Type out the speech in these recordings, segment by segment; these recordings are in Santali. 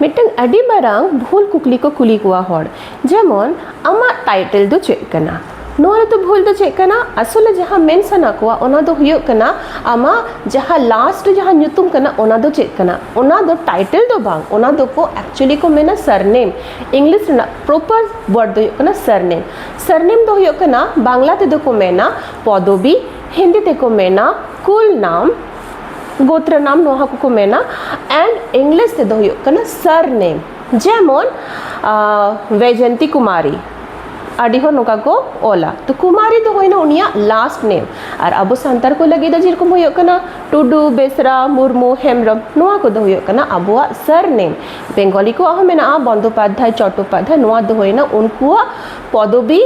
ᱢᱤᱫᱴᱟᱝ ᱟᱹᱰᱤ ᱢᱟᱨᱟᱝ ᱵᱷᱩᱞ ᱠᱩᱠᱞᱤ ᱠᱚ ᱠᱩᱞᱤ ᱠᱚᱣᱟ ᱦᱚᱲ ᱡᱮᱢᱚᱱ ᱟᱢᱟᱜ ᱴᱟᱭᱴᱮᱞ ᱫᱚ ᱪᱮᱫ ᱠᱟᱱᱟ ᱱᱚᱣᱟ ᱨᱮᱫᱚ ᱵᱷᱩᱞ ᱫᱚ ᱪᱮᱫ ᱠᱟᱱᱟ ᱟᱥᱚᱞᱮ ᱡᱟᱦᱟᱸ ᱢᱮᱱ ᱥᱟᱱᱟ ᱠᱚᱣᱟ ᱚᱱᱟ ᱫᱚ ᱦᱩᱭᱩᱜ ᱠᱟᱱᱟ ᱟᱢᱟᱜ ᱡᱟᱦᱟᱸ ᱞᱟᱥᱴ ᱨᱮ ᱡᱟᱦᱟᱸ ᱧᱩᱛᱩᱢ ᱠᱟᱱᱟ ᱚᱱᱟ ᱫᱚ ᱪᱮᱫ ᱠᱟᱱᱟ ᱚᱱᱟ ᱫᱚ ᱴᱟᱭᱴᱮᱞ ᱫᱚ ᱵᱟᱝ ᱚᱱᱟ ᱫᱚᱠᱚ ᱮᱠᱪᱩᱭᱮᱞᱤ ᱠᱚ ᱢᱮᱱᱟ ᱥᱟᱨᱱᱮᱢ ᱤᱝᱞᱤᱥ ᱨᱮᱱᱟᱜ ᱯᱨᱚᱯᱟᱨ ᱣᱟᱨᱰ ᱫᱚ ᱦᱩᱭᱩᱜ ᱠᱟᱱᱟ ᱥᱟᱨᱱᱮᱢ ᱥᱟᱨᱱᱮᱢ ᱫᱚ ᱦᱩᱭᱩᱜ ᱠᱟᱱᱟ ᱵᱟᱝᱞᱟ ᱛᱮᱫᱚ ᱠᱚ ᱢᱮᱱᱟ ᱯᱚᱫᱚᱵᱤ ᱦᱤᱱᱫᱤ ᱛᱮᱠᱚ ᱢᱮᱱᱟ ᱠᱩᱞ ᱱᱟᱢ ᱜᱳᱛᱨᱟ ᱱᱟᱢ ᱱᱚᱣᱟ ᱦᱚᱸ ᱠᱚᱠᱚ ᱢᱮᱱᱟ ᱮᱱᱰ ᱤᱝᱞᱤᱥ ᱛᱮᱫᱚ ᱦᱩᱭᱩᱜ ᱠᱟᱱᱟ ᱥᱟᱨ ᱱᱮᱢ ᱡᱮᱢᱚᱱ ᱵᱮᱡᱚᱱᱛᱤ ᱠᱩᱢᱟᱨᱤ ᱟᱹᱰᱤ ᱦᱚᱲ ᱱᱚᱝᱠᱟ ᱠᱚ ᱚᱞᱟ ᱛᱚ ᱠᱩᱢᱟᱨᱤ ᱫᱚ ᱦᱩᱭᱱᱟ ᱩᱱᱤᱭᱟᱜ ᱞᱟᱥᱴ ᱱᱮᱢ ᱟᱨ ᱟᱵᱚ ᱥᱟᱱᱛᱟᱲ ᱠᱚ ᱞᱟᱹᱜᱤᱫ ᱫᱚ ᱡᱮᱨᱚᱠᱚᱢ ᱦᱩᱭᱩᱜ ᱠᱟᱱᱟ ᱴᱩᱰᱩ ᱵᱮᱥᱨᱟ ᱢᱩᱨᱢᱩ ᱦᱮᱢᱵᱨᱚᱢ ᱱᱚᱣᱟ ᱠᱚᱫᱚ ᱦᱩᱭᱩᱜ ᱠᱟᱱᱟ ᱟᱵᱚᱣᱟᱜ ᱥᱟᱨ ᱱᱮᱢ ᱵᱮᱝᱜᱚᱞᱤ ᱠᱚᱣᱟᱜ ᱦᱚᱸ ᱢᱮᱱᱟᱜᱼᱟ ᱵᱚᱱᱫᱳᱯᱟᱫᱽᱫᱷᱟᱭ ᱪᱚᱴᱴᱳᱯᱟᱫᱽᱫᱷᱟᱭ ᱱᱚᱣᱟ ᱫᱚ ᱦᱩᱭᱱᱟ ᱩᱱᱠᱩᱣᱟᱜ ᱯᱚᱫᱚᱵᱤ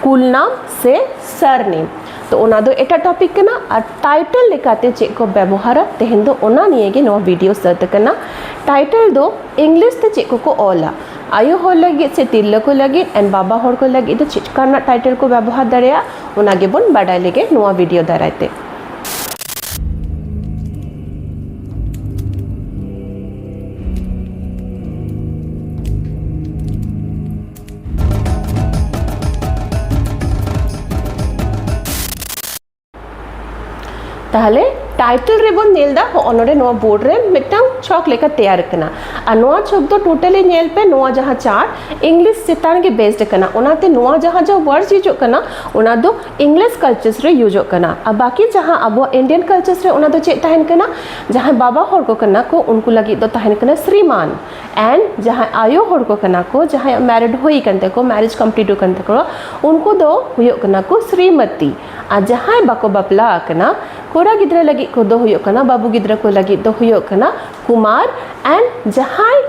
ᱠᱩᱞ ᱱᱟᱢ ᱥᱮ ᱥᱟᱨ ᱱᱮᱢ ᱛᱚ ᱚᱱᱟ ᱫᱚ ᱮᱴᱟᱜ ᱴᱚᱯᱤᱠ ᱠᱟᱱᱟ ᱟᱨ ᱴᱟᱭᱴᱮᱞ ᱞᱮᱠᱟᱛᱮ ᱪᱮᱫ ᱠᱚ ᱵᱮᱵᱚᱦᱟᱨᱟ ᱛᱮᱦᱮᱧ ᱫᱚ ᱚᱱᱟ ᱱᱤᱭᱮ ᱜᱮ ᱱᱚᱣᱟ ᱵᱷᱤᱰᱤᱭᱳ ᱥᱟᱹᱛ ᱟᱠᱟᱱᱟ ᱴᱟᱭᱴᱮᱞ ᱫᱚ ᱤᱝᱞᱤᱥ ᱛᱮ ᱪᱮᱫ ᱠᱚᱠᱚ ᱚᱞᱟ ᱟᱭᱳ ᱦᱚᱲ ᱞᱟᱹᱜᱤᱫ ᱥᱮ ᱛᱤᱨᱞᱟᱹ ᱠᱚ ᱞᱟᱹᱜᱤᱫ ᱮᱱᱰ ᱵᱟᱵᱟ ᱦᱚᱲ ᱠᱚ ᱞᱟᱹᱜᱤᱫ ᱫᱚ ᱪᱮᱫ ᱠᱟ ᱨᱮᱱᱟᱜ ᱴᱟᱭᱴᱮᱞ ᱠᱚ ᱵᱮᱵᱚᱦᱟᱨ ᱫᱟᱲᱮᱭᱟᱜᱼᱟ ᱚᱱᱟ ᱜᱮᱵᱚᱱ ᱵᱟᱰᱟᱭ ᱞᱮᱜᱮ ᱱᱚᱣᱟ ᱵᱷᱤᱰᱤᱭᱳ ᱫᱟᱨᱟᱭ ᱛᱮ ᱛᱟᱦᱞᱮ ᱴᱟᱭᱴᱮᱞ ᱨᱮᱵᱚᱱ ᱧᱮᱞ ᱮᱫᱟ ᱦᱚᱸᱜᱼᱚ ᱱᱚᱰᱮ ᱱᱚᱣᱟ ᱵᱳᱨᱰ ᱨᱮ ᱢᱤᱫᱴᱟᱝ ᱪᱷᱚᱠ ᱞᱮᱠᱟ ᱛᱮᱭᱟᱨ ᱟᱠᱟᱱᱟ ᱟᱨ ᱱᱚᱣᱟ ᱪᱷᱚᱠ ᱫᱚ ᱴᱳᱴᱟᱞᱤ ᱧᱮᱞ ᱯᱮ ᱱᱚᱣᱟ ᱡᱟᱦᱟᱸ ᱪᱟᱨᱴ ᱤᱝᱞᱤᱥ ᱪᱮᱛᱟᱱ ᱜᱮ ᱵᱮᱥᱰ ᱟᱠᱟᱱᱟ ᱚᱱᱟᱛᱮ ᱱᱚᱣᱟ ᱡᱟᱦᱟᱸ ᱡᱟᱦᱟᱸ ᱣᱟᱨᱰᱥ ᱦᱤᱡᱩᱜ ᱠᱟᱱᱟ ᱚᱱᱟ ᱫᱚ ᱤᱝᱞᱤᱥ ᱠᱟᱞᱪᱟᱨᱥ ᱨᱮ ᱭᱩᱡᱚᱜ ᱠᱟᱱᱟ ᱟᱨ ᱵᱟᱹᱠᱤ ᱡᱟᱦᱟᱸ ᱟᱵᱚᱣᱟᱜ ᱤᱱᱰᱤᱭᱟᱱ ᱠᱟᱞᱪᱟᱨᱥ ᱨᱮ ᱚᱱᱟ ᱫᱚ ᱪᱮᱫ ᱛᱟᱦᱮᱱ ᱠᱟᱱᱟ ᱡᱟᱦᱟᱸᱭ ᱵᱟᱵᱟ ᱦᱚᱲ ᱠᱚ ᱠᱟᱱᱟ ᱠᱚ ᱩᱱᱠᱩ ᱞᱟᱹᱜᱤᱫ ᱫᱚ ᱛᱟᱦᱮᱱ ᱠᱟᱱᱟ ᱥᱨᱤᱢᱟᱱ ᱮᱱᱰ ᱡᱟᱦᱟᱸᱭ ᱟᱭᱳ ᱦᱚᱲ ᱠᱚ ᱠᱟᱱᱟ ᱠᱚ ᱡᱟᱦᱟᱸᱭᱟᱜ ᱢᱮᱨᱤᱰ ᱦᱩᱭ ᱠᱟᱱ ᱛᱟᱠᱚ ᱢᱮᱨᱮᱡᱽ ᱠᱚᱢᱯᱞᱤᱴ ᱠᱟᱱ ᱛᱟᱠᱚ ᱩᱱᱠᱩ ᱫᱚ ᱦᱩᱭᱩᱜ ᱠᱟᱱᱟ ᱠᱚ ᱥᱨᱤᱢᱚᱛᱤ ᱟᱨ ᱡᱟᱦᱟᱸᱭ ᱵᱟᱠᱚ ᱵᱟᱯᱞᱟ ᱟᱠᱟᱱᱟ ᱠᱚᱲᱟ ᱜᱤᱫᱽᱨᱟᱹ ᱞᱟᱹᱜᱤᱫ ᱠᱚᱫᱚ ᱦᱩᱭᱩᱜ ᱠᱟᱱᱟ ᱵᱟᱹᱵᱩ ᱜᱤᱫᱽᱨᱟᱹ ᱠᱚ ᱞᱟᱹᱜᱤᱫ ᱫᱚ ᱦᱩᱭᱩᱜ ᱠᱟᱱᱟ ᱠᱩᱢᱟᱨ ᱮᱱᱰ ᱡᱟᱦᱟᱸᱭ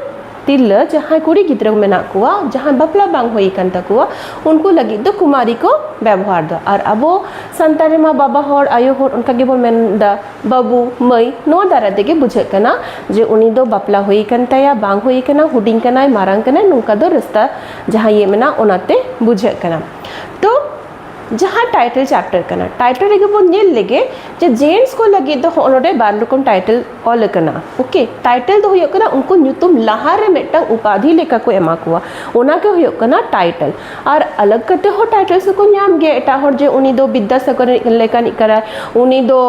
ᱛᱤᱨᱞᱟᱹ ᱡᱟᱦᱟᱸᱭ ᱠᱩᱲᱤ ᱜᱤᱫᱽᱨᱟᱹ ᱢᱮᱱᱟᱜ ᱠᱚᱣᱟ ᱡᱟᱦᱟᱸᱭ ᱵᱟᱯᱞᱟ ᱵᱟᱝ ᱦᱩᱭ ᱠᱟᱱ ᱛᱟᱠᱚᱣᱟ ᱩᱱᱠᱩ ᱞᱟᱹᱜᱤᱫ ᱫᱚ ᱠᱩᱢᱟᱨᱤ ᱠᱚ ᱵᱮᱵᱚᱦᱟᱨ ᱫᱟ ᱟᱨ ᱟᱵᱚ ᱥᱟᱱᱛᱟᱲ ᱨᱮᱢᱟ ᱵᱟᱵᱟ ᱦᱚᱲ ᱟᱭᱳ ᱦᱚᱲ ᱚᱱᱠᱟ ᱜᱮᱵᱚᱱ ᱢᱮᱱᱫᱟ ᱵᱟᱹᱵᱩ ᱢᱟᱹᱭ ᱱᱚᱣᱟ ᱫᱟᱨᱟᱭ ᱛᱮᱜᱮ ᱵᱩᱡᱷᱟᱹᱜ ᱠᱟᱱᱟ ᱡᱮ ᱩᱱᱤ ᱫᱚ ᱵᱟᱯᱞᱟ ᱦᱩᱭ ᱟᱠᱟᱱ ᱛᱟᱭᱟ ᱵᱟᱝ ᱦᱩᱭ ᱟᱠᱟᱱᱟ ᱦᱩᱰᱤᱧ ᱠᱟᱱᱟᱭ ᱢᱟᱨᱟᱝ ᱠᱟᱱᱟᱭ ᱱᱚᱝᱠᱟ ᱫᱚ ᱨᱟᱹᱥᱠᱟᱹ ᱡᱟᱦᱟᱸ ᱤᱭᱟᱹ ᱢᱮᱱᱟᱜᱼᱟ ᱚᱱᱟᱛᱮ ᱵᱩᱡᱷᱟᱹᱜ ᱠᱟᱱᱟ ᱛᱚ ᱡᱟᱦᱟᱸ ᱴᱟᱭᱴᱮᱞ ᱪᱮᱯᱴᱟᱨ ᱠᱟᱱᱟ ᱴᱟᱭᱴᱮᱞ ᱨᱮᱜᱮ ᱵᱚᱱ ᱧᱮᱞ ᱞᱮᱜᱮ ᱡᱮ ᱡᱮᱱᱴᱥ ᱠᱚ ᱞᱟᱹᱜᱤᱫ ᱫᱚ ᱦᱚᱸᱜᱼᱚ ᱱᱚᱰᱮ ᱵᱟᱨ ᱨᱚᱠᱚᱢ ᱴᱟᱭᱴᱮᱞ ᱚᱞ ᱟᱠᱟᱱᱟ ᱳᱠᱮ ᱴᱟᱭᱴᱮᱞ ᱫᱚ ᱦᱩᱭᱩᱜ ᱠᱟᱱᱟ ᱩᱱᱠᱩ ᱧᱩᱛᱩᱢ ᱞᱟᱦᱟᱨᱮ ᱢᱤᱫᱴᱟᱝ ᱩᱯᱟᱫᱷᱤ ᱞᱮᱠᱟ ᱠᱚ ᱮᱢᱟ ᱠᱚᱣᱟ ᱚᱱᱟᱜᱮ ᱦᱩᱭᱩᱜ ᱠᱟᱱᱟ ᱴᱟᱭᱴᱮᱞ ᱟᱨ ᱟᱞᱟᱜᱽ ᱠᱟᱛᱮ ᱦᱚᱸ ᱴᱟᱭᱴᱮᱞᱥ ᱫᱚᱠᱚ ᱧᱟᱢ ᱜᱮᱭᱟ ᱮᱴᱟᱜ ᱦᱚᱲ ᱡᱮ ᱩᱱᱤ ᱫᱚ ᱵᱤᱫᱽᱫᱟᱥᱟᱜᱚᱨ ᱞᱮᱠᱟᱱᱤᱡ ᱠᱟᱱᱟᱭ ᱩᱱᱤ ᱫᱚ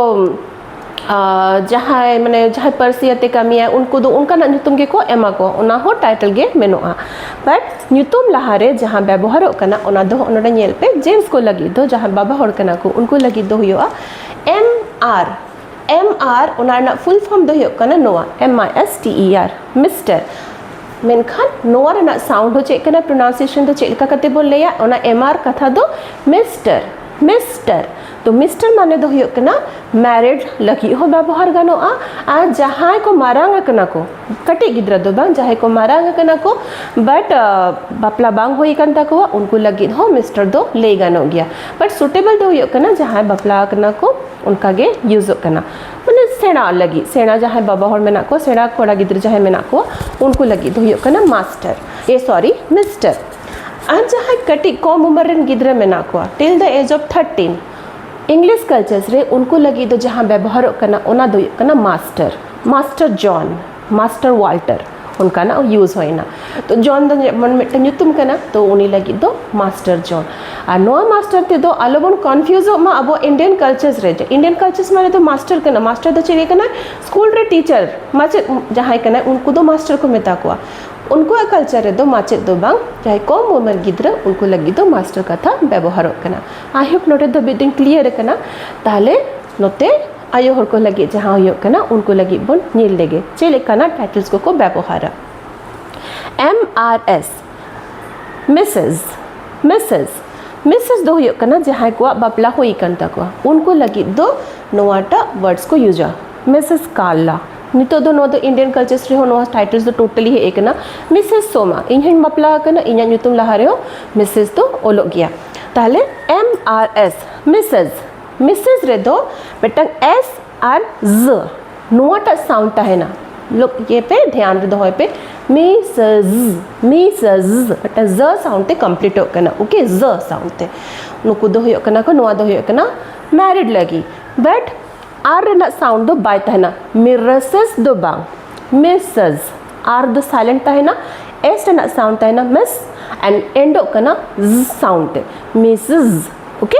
ᱡᱟᱦᱟᱸᱭ ᱢᱟᱱᱮ ᱡᱟᱦᱟᱸᱭ ᱯᱟᱹᱨᱥᱤ ᱟᱛᱮ ᱠᱟᱹᱢᱤᱭᱟ ᱩᱱᱠᱩ ᱫᱚ ᱚᱱᱠᱟᱱᱟᱜ ᱧᱩᱛᱩᱢ ᱜᱮᱠᱚ ᱮᱢᱟ ᱠᱚ ᱚᱱᱟ ᱦᱚᱸ ᱴᱟᱭᱴᱮᱞ ᱜᱮ ᱢᱮᱱᱚᱜᱼᱟ ᱵᱟᱴ ᱧᱩᱛᱩᱢ ᱞᱟᱦᱟᱨᱮ ᱡᱟᱦᱟᱸ ᱵᱮᱵᱚᱦᱟᱨᱚᱜ ᱠᱟᱱᱟ ᱚᱱᱟ ᱫᱚ ᱱᱚᱰᱮ ᱧᱮᱞ ᱯᱮ ᱡᱮᱱᱥ ᱠᱚ ᱞᱟᱹᱜᱤᱫ ᱫᱚ ᱡᱟᱦᱟᱸ ᱵᱟᱵᱟ ᱦᱚᱲ ᱠᱟᱱᱟ ᱠᱚ ᱩᱱᱠᱩ ᱞᱟᱹᱜᱤᱫ ᱫᱚ ᱦᱩᱭᱩᱜᱼᱟ ᱮᱢ ᱟᱨ ᱮᱢ ᱟᱨ ᱚᱱᱟ ᱨᱮᱱᱟᱜ ᱯᱷᱩᱞ ᱯᱷᱚᱨᱢ ᱫᱚ ᱦᱩᱭᱩᱜ ᱠᱟᱱᱟ ᱱᱚᱣᱟ M I S T E R mister ᱢᱮᱱᱠᱷᱟᱱ ᱱᱚᱣᱟ ᱨᱮᱱᱟᱜ ᱥᱟᱣᱩᱱᱰ ᱦᱚᱸ ᱪᱮᱫ ᱠᱟᱱᱟ ᱯᱨᱚᱱᱟᱣᱱᱥᱤᱭᱮᱥᱚᱱ ᱫᱚ ᱪᱮᱫ ᱞᱮᱠᱟ ᱠᱟᱛᱮ ᱵᱚᱱ ᱞᱟᱹᱭᱟ ᱚᱱᱟ ᱮᱢ ᱟᱨ ᱠᱟᱛᱷᱟ ᱫᱚ ᱢᱤᱥᱴᱟᱨ ᱢᱤᱥᱴᱟᱨ ᱛᱚ ᱢᱤᱥᱴᱟᱨ ᱢᱟᱱᱮ ᱫᱚ ᱦᱩᱭᱩᱜ ᱠᱟᱱᱟ ᱢᱮᱨᱤᱰ ᱞᱟᱹᱜᱤᱫ ᱦᱚᱸ ᱵᱮᱵᱚᱦᱟᱨ ᱜᱟᱱᱚᱜᱼᱟ ᱟᱨ ᱡᱟᱦᱟᱸᱭ ᱠᱚ ᱢᱟᱨᱟᱝ ᱟᱠᱟᱱᱟ ᱠᱚ ᱠᱟᱹᱴᱤᱡ ᱜᱤᱫᱽᱨᱟᱹ ᱫᱚ ᱵᱟᱝ ᱡᱟᱦᱟᱸᱭ ᱠᱚ ᱢᱟᱨᱟᱝ ᱟᱠᱟᱱᱟ ᱠᱚ ᱵᱟᱴ ᱵᱟᱯᱞᱟ ᱵᱟᱝ ᱦᱩᱭ ᱟᱠᱟᱱ ᱛᱟᱠᱚᱣᱟ ᱩᱱᱠᱩ ᱞᱟᱹᱜᱤᱫ ᱦᱚᱸ ᱢᱤᱥᱴᱟᱨ ᱫᱚ ᱞᱟᱹᱭ ᱜᱟᱱᱚᱜ ᱜᱮᱭᱟ ᱵᱟᱴ ᱥᱩᱴᱮᱵᱚᱞ ᱫᱚ ᱦᱩᱭᱩᱜ ᱠᱟᱱᱟ ᱡᱟᱦᱟᱸᱭ ᱵᱟᱯᱞᱟ ᱟᱠᱟᱱᱟ ᱠᱚ ᱚᱱᱠᱟ ᱜᱮ ᱤᱭᱩᱡᱚᱜ ᱠᱟᱱᱟ ᱢᱟᱱᱮ ᱥᱮᱬᱟ ᱞᱟᱹᱜᱤᱫ ᱥᱮᱬᱟ ᱡᱟᱦᱟᱸᱭ ᱵᱟᱵᱟ ᱦᱚᱲ ᱢᱮᱱᱟᱜ ᱠᱚᱣᱟ ᱥᱮᱬᱟ ᱠᱚᱲᱟ ᱜᱤᱫᱽᱨᱟᱹ ᱡᱟᱦᱟᱸᱭ ᱢᱮᱱᱟᱜ ᱠᱚᱣᱟ ᱩᱱᱠᱩ ᱞᱟᱹᱜᱤᱫ ᱫᱚ ᱦᱩᱭᱩᱜ ᱠᱟᱱᱟ ᱢᱟᱥᱴᱟᱨ ᱮ ᱥᱚᱨᱤ ᱢᱤᱥᱴᱟᱨ ᱟᱨ ᱡᱟᱦᱟᱸᱭ ᱠᱟᱹᱴᱤᱡ ᱠᱚᱢ ᱩᱢᱮᱨ ᱨᱮᱱ ᱜᱤᱫᱽᱨᱟᱹ ᱢᱮᱱᱟᱜ ᱠᱚᱣᱟ till the age of thirteen English cultures ᱨᱮ ᱩᱱᱠᱩ ᱞᱟᱹᱜᱤᱫ ᱫᱚ ᱡᱟᱦᱟᱸ ᱵᱮᱵᱚᱦᱟᱨᱚᱜ ᱠᱟᱱᱟ ᱚᱱᱟ ᱫᱚ ᱦᱩᱭᱩᱜ ᱠᱟᱱᱟ master master John master Walter ᱚᱱᱠᱟᱱᱟᱜ ᱤᱭᱩᱡᱽ ᱦᱩᱭᱱᱟ ᱛᱚ ᱡᱚᱱ ᱫᱚ ᱡᱮᱢᱚᱱ ᱢᱤᱫᱴᱟᱝ ᱧᱩᱛᱩᱢ ᱠᱟᱱᱟ ᱛᱚ ᱩᱱᱤ ᱞᱟᱹᱜᱤᱫ ᱫᱚ ᱢᱟᱥᱴᱟᱨ ᱡᱚᱱ ᱟᱨ ᱱᱚᱣᱟ ᱢᱟᱥᱴᱟᱨ ᱛᱮᱫᱚ ᱟᱞᱚᱵᱚᱱ ᱠᱚᱱᱯᱷᱤᱭᱩᱡᱚᱜ ᱢᱟ ᱟᱵᱚ ᱤᱱᱰᱤᱭᱟᱱ ᱠᱟᱞᱪᱟᱨᱥ ᱨᱮ ᱤᱱᱰᱤᱭᱟᱱ ᱠᱟᱞᱪᱟᱨᱥ ᱢᱟᱱᱮ ᱫᱚ ᱢᱟᱥᱴᱟᱨ ᱠᱟᱱᱟ ᱢᱟᱥᱴᱟᱨ ᱫᱚ ᱪᱮᱫ ᱠᱟᱱᱟ ᱥᱠᱩᱞ ᱨᱮ ᱴᱤᱪᱟᱨ ᱢᱟᱪᱮᱫ ᱡᱟᱦᱟᱸᱭ ᱠᱟᱱᱟᱭ ᱩᱱᱠᱩ ᱫᱚ ᱢᱟᱥᱴᱟᱨ ᱠᱚ ᱢᱮᱛᱟ ᱠᱚᱣᱟ ᱩᱱᱠᱩᱣᱟᱜ ᱠᱟᱞᱪᱟᱨ ᱨᱮᱫᱚ ᱢᱟᱪᱮᱫ ᱫᱚ ᱵᱟᱝ ᱡᱟᱦᱟᱸᱭ ᱠᱚᱢ ᱩᱢᱮᱨ ᱜᱤᱫᱽᱨᱟᱹ ᱩᱱᱠᱩ ᱞᱟᱹᱜᱤᱫ ᱫᱚ ᱢᱟᱥᱴᱟᱨ ᱠᱟᱛᱷᱟ ᱵᱮᱵᱚᱦᱟᱨᱚᱜ ᱠᱟᱱᱟ ᱟᱭ ᱦᱳᱯ ᱱᱚᱰᱮ ᱫᱷᱟᱹᱵᱤᱡ ᱫᱚᱧ ᱠᱞᱤᱭᱟᱨ ᱠᱟᱱᱟ ᱛᱟᱦᱚᱞᱮ ᱱᱚᱛᱮ ᱟᱭᱳ ᱦᱚᱲ ᱠᱚ ᱞᱟᱹᱜᱤᱫ ᱡᱟᱦᱟᱸ ᱦᱩᱭᱩᱜ ᱠᱟᱱᱟ ᱩᱱᱠᱩ ᱞᱟᱹᱜᱤᱫ ᱵᱚᱱ ᱧᱮᱞ ᱞᱮᱜᱮ ᱪᱮᱫ ᱞᱮᱠᱟᱱᱟᱜ ᱴᱟᱭᱴᱮᱞᱥ ᱠᱚᱠᱚ ᱵᱮᱵᱚᱦᱟᱨᱟ M R S Mrs Mrs Mrs ᱫᱚ ᱦᱩᱭᱩᱜ ᱠᱟᱱᱟ ᱡᱟᱦᱟᱸᱭ ᱠᱚᱣᱟᱜ ᱵᱟᱯᱞᱟ ᱦᱩᱭ ᱟᱠᱟᱱ ᱛᱟᱠᱚᱣᱟ ᱩᱱᱠᱩ ᱞᱟᱹᱜᱤᱫ ᱫᱚ ᱱᱚᱣᱟᱴᱟᱜ ᱣᱟᱨᱰᱥ ᱠᱚ ᱭᱩᱡᱟ ᱢᱤᱥᱮᱥ ᱠᱟᱨᱞᱟ ᱱᱤᱛᱚᱜ ᱫᱚ ᱱᱚᱣᱟ ᱫᱚ ᱤᱱᱰᱤᱭᱟᱱ ᱠᱟᱞᱪᱟᱨᱥ ᱨᱮᱦᱚᱸ ᱱᱚᱣᱟ ᱴᱟᱭᱴᱮᱞᱥ ᱫᱚ ᱴᱳᱴᱟᱞᱤ ᱦᱮᱡ ᱟᱠᱟᱱᱟ ᱢᱤᱥᱮᱥ ᱥᱳᱢᱟ ᱤᱧ ᱦᱚᱧ ᱵᱟᱯᱞᱟ ᱟᱠᱟᱱᱟ ᱤᱧᱟᱹᱜ ᱧᱩᱛᱩᱢ ᱞᱟᱦᱟ ᱨᱮᱦᱚᱸ ᱢᱤᱥᱮᱥ ᱫᱚ ᱚᱞᱚᱜ ᱜᱮᱭᱟ ᱛᱟᱦᱚᱞᱮ M R S missus missus ᱨᱮᱫᱚ ᱢᱤᱫᱴᱟᱝ ᱮᱥ ᱟᱨ ᱡ ᱱᱚᱣᱟᱴᱟᱜ ᱥᱟᱣᱩᱱᱰ ᱛᱟᱦᱮᱱᱟ ᱞᱳᱠ ᱤᱭᱟᱹ ᱯᱮ ᱫᱷᱮᱭᱟᱱ ᱨᱮ ᱫᱚᱦᱚᱭ ᱯᱮ ᱢᱮᱥᱮᱡᱽ ᱢᱮᱥᱮᱡᱽ ᱢᱤᱫᱴᱟᱝ ᱡ ᱥᱟᱣᱩᱱᱰ ᱛᱮ ᱠᱚᱢᱯᱞᱤᱴᱚᱜ ᱠᱟᱱᱟ ᱳᱠᱮ ᱡ ᱥᱟᱣᱩᱱᱰ ᱛᱮ ᱱᱩᱠᱩ ᱫᱚ ᱦᱩᱭᱩᱜ ᱠᱟᱱᱟ ᱠᱚ ᱱᱚᱣᱟ ᱫᱚ ᱦᱩᱭᱩᱜ ᱠᱟᱱᱟ ᱢᱮᱨᱤᱰ ᱞᱟᱹᱜᱤᱫ ᱵᱟᱴ ᱟᱨ ᱨᱮᱱᱟᱜ ᱥᱟᱣᱩᱱᱰ ᱫᱚ ᱵᱟᱭ ᱛᱟᱦᱮᱱᱟ ᱢᱤᱨᱮᱥᱮᱥ ᱫᱚ ᱵᱟᱝ ᱢᱮᱥᱮᱡᱽ ᱟᱨ ᱫᱚ ᱥᱟᱭᱞᱮᱱᱴ ᱛᱟᱦᱮᱱᱟ ᱮᱥ ᱨᱮᱱᱟᱜ ᱥᱟᱣᱩᱱᱰ ᱛᱟᱦᱮᱱᱟ ᱢᱮᱥ ᱮᱱᱰ ᱮᱱᱰᱚᱜ ᱠᱟᱱᱟ ᱡ ᱥᱟᱣᱩᱱᱰ ᱛᱮ ᱢᱮᱥᱮᱡᱽ ᱳᱠᱮ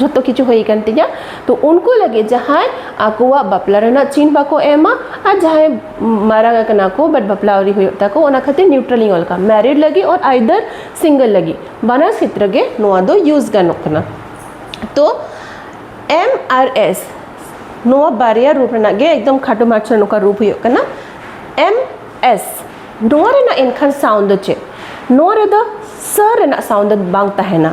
ᱡᱷᱚᱛᱚ ᱠᱤᱪᱷᱩ ᱦᱩᱭ ᱟᱠᱟᱱ ᱛᱤᱧᱟ ᱛᱚ ᱩᱱᱠᱩ ᱞᱟᱹᱜᱤᱫ ᱡᱟᱦᱟᱸᱭ ᱟᱠᱚᱣᱟᱜ ᱵᱟᱯᱞᱟ ᱨᱮᱱᱟᱜ ᱪᱤᱱ ᱵᱟᱠᱚ ᱮᱢᱟ ᱟᱨ ᱡᱟᱦᱟᱸᱭ ᱢᱟᱨᱟᱝ ᱟᱠᱟᱱᱟ ᱠᱚ ᱵᱟᱴ ᱵᱟᱯᱞᱟ ᱟᱹᱣᱨᱤ ᱦᱩᱭᱩᱜ ᱛᱟᱠᱚ ᱚᱱᱟ ᱠᱷᱟᱹᱛᱤᱨ ᱱᱤᱭᱩᱴᱨᱟᱞ ᱤᱧ ᱚᱞ ᱠᱟᱜᱼᱟ ᱢᱮᱨᱤᱰ ᱞᱟᱹᱜᱤᱫ ᱚᱨ ᱟᱭᱫᱟᱨ ᱥᱤᱝᱜᱮᱞ ᱞᱟᱹᱜᱤᱫ ᱵᱟᱱᱟᱨ ᱠᱷᱮᱛᱨᱮ ᱜᱮ ᱱᱚᱣᱟ ᱫᱚ ᱤᱭᱩᱡᱽ ᱜᱟᱱᱚᱜ ᱠᱟᱱᱟ ᱛᱚ ᱮᱢ ᱟᱨ ᱮᱥ ᱱᱚᱣᱟ ᱵᱟᱨᱭᱟ ᱨᱩᱯ ᱨᱮᱱᱟᱜ ᱜᱮ ᱮᱠᱫᱚᱢ ᱠᱷᱟᱴᱚ ᱢᱟᱪᱷᱟ ᱱᱚᱝᱠᱟ ᱨᱩᱯ ᱦᱩᱭᱩᱜ ᱠᱟᱱᱟ ᱮᱢ ᱮᱥ ᱱᱚᱣᱟ ᱨᱮᱱᱟᱜ ᱮᱱᱠᱷᱟᱱ ᱥᱟᱣᱩᱱᱰ ᱫᱚ ᱪᱮᱫ ᱱᱚᱣᱟ ᱨᱮᱫᱚ ᱥᱟᱹ ᱨᱮᱱᱟᱜ ᱥᱟᱣᱩᱱᱰ ᱫᱚ ᱵᱟᱝ ᱛᱟᱦᱮᱱᱟ